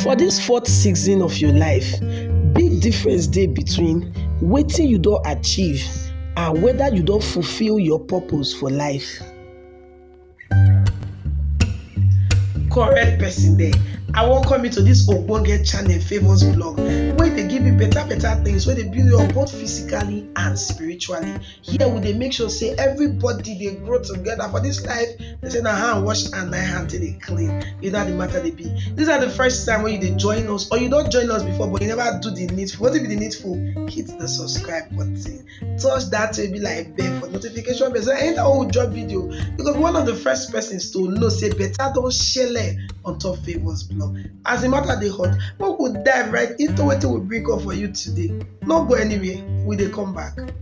For dis fourth season of your life, big difference dey between wetin you don achieve and whether you don fulfill your purpose for life. Correct person there. I welcome you to this ogbonge channel famous blog wey dey give you better better things wey dey build you up both physically and spiritually. here we dey make sure say everybody dey grow together for this life they say na hand wash and na hand take dey clean you know how the matter dey be this na the first time wey you dey join us or you don join us before but you never do the needful wetin be the needful hit the subscribe button touch that way be like bell for notification bell so anytime wey we drop video you go be one of the first persons to know say better don shele on top favours blog as the matter dey hot make we dive right into wetin we bring up for you today no go anywhere we dey come back.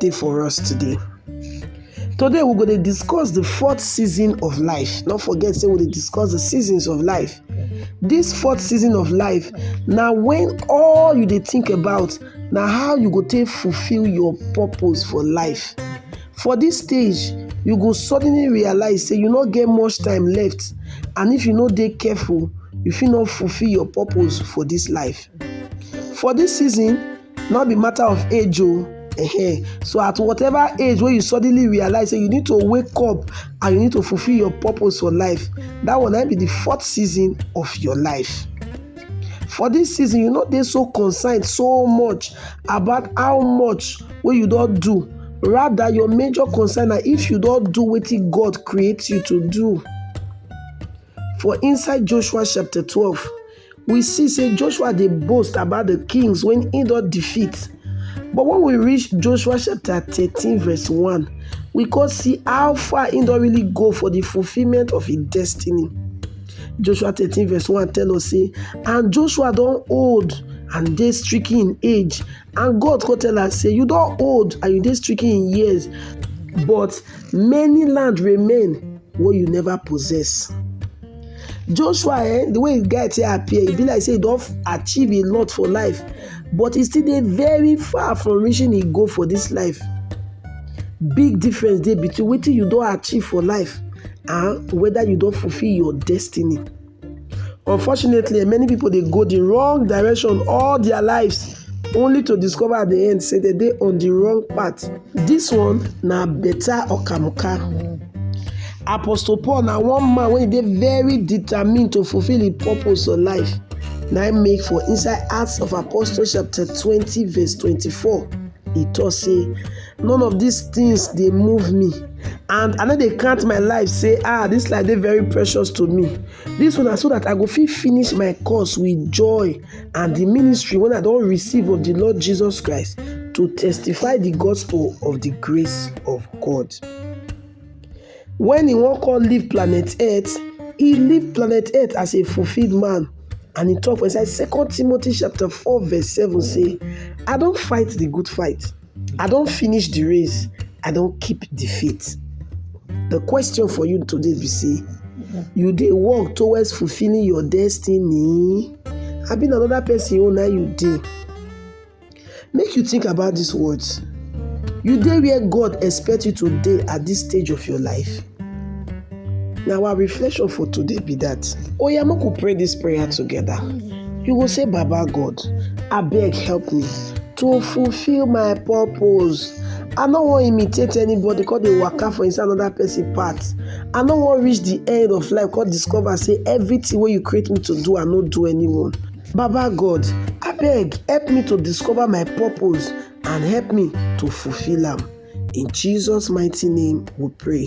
dey for us today. Today we go dey discuss the fourth season of life. No forget say we dey discuss the seasons of life. This fourth season of life na when all you dey think about na how you go take fulfill your purpose for life. For this stage, you go suddenly realize say you no get much time left and if you no dey careful, you fit no fulfill your purpose for this life. For this season, no be matter of age o -huh. so at whatever age wey you suddenly realize say you need to wake up and you need to fulfill your purpose for life that one na be the fourth season of your life for this season you no dey so concerned so much about how much wey you don do rather your major concern na if you don do wetin god create you to do for inside joshua chapter twelve we see say Joshua dey boast about the kings when he don defeat. But when we reach Joshua chapter 13 verse 1, we can see how far he don really go for the fulfillment of his destiny. Joshua 13 verse 1 tell us say, And Joshua don old and dey stricken in age, And God come tell am say, You don old and you dey stricken in years, but many land remain wey you never possess. Joshua eh, the way the guy take appear, e be like say he don achieve a lot for life, but he still dey very far from reaching him goal for this life. Big difference dey between wetin you don achieve for life and whether you don fulfill your destiny. Unfortunately, many people they go the wrong direction all their lives only to discover at the end say they dey on the wrong path. This one na better okamuka. Apostle Paul na one man wey dey very determined to fulfill im purpose for life. Na im make for inside Acts of Apostles chapter twenty verse twenty-four e talk say none of these things dey move me and i no dey count my life say ah this life dey very precious to me this one na so that i go fit finish my course with joy and the ministry wey i don receive of the lord jesus christ to testify the gospel of the grace of god when he wan come leave planet earth he leave planet earth as a fulfilled man and he talk for inside second timothy chapter four verse seven say i don fight the good fight I don finish the race, I don keep the faith. The question for you today be say, you dey work towards fulfilling your destiny? Abi na another person own na you dey? Make you think about these words. You dey where God expect you to dey at this stage of your life? Na our reflection for today be that. Oya make we pray this prayer together. You go say, Baba God, abeg help me. To fulfill my purpose. I no wan imitate anybody come dey waka for inside another person path. I no wan reach the end of life come discover say everything wey you create me to do, I no do anyone. Baba God, abeg help me to discover my purpose and help me to fulfill am. In Jesus mighty name we pray.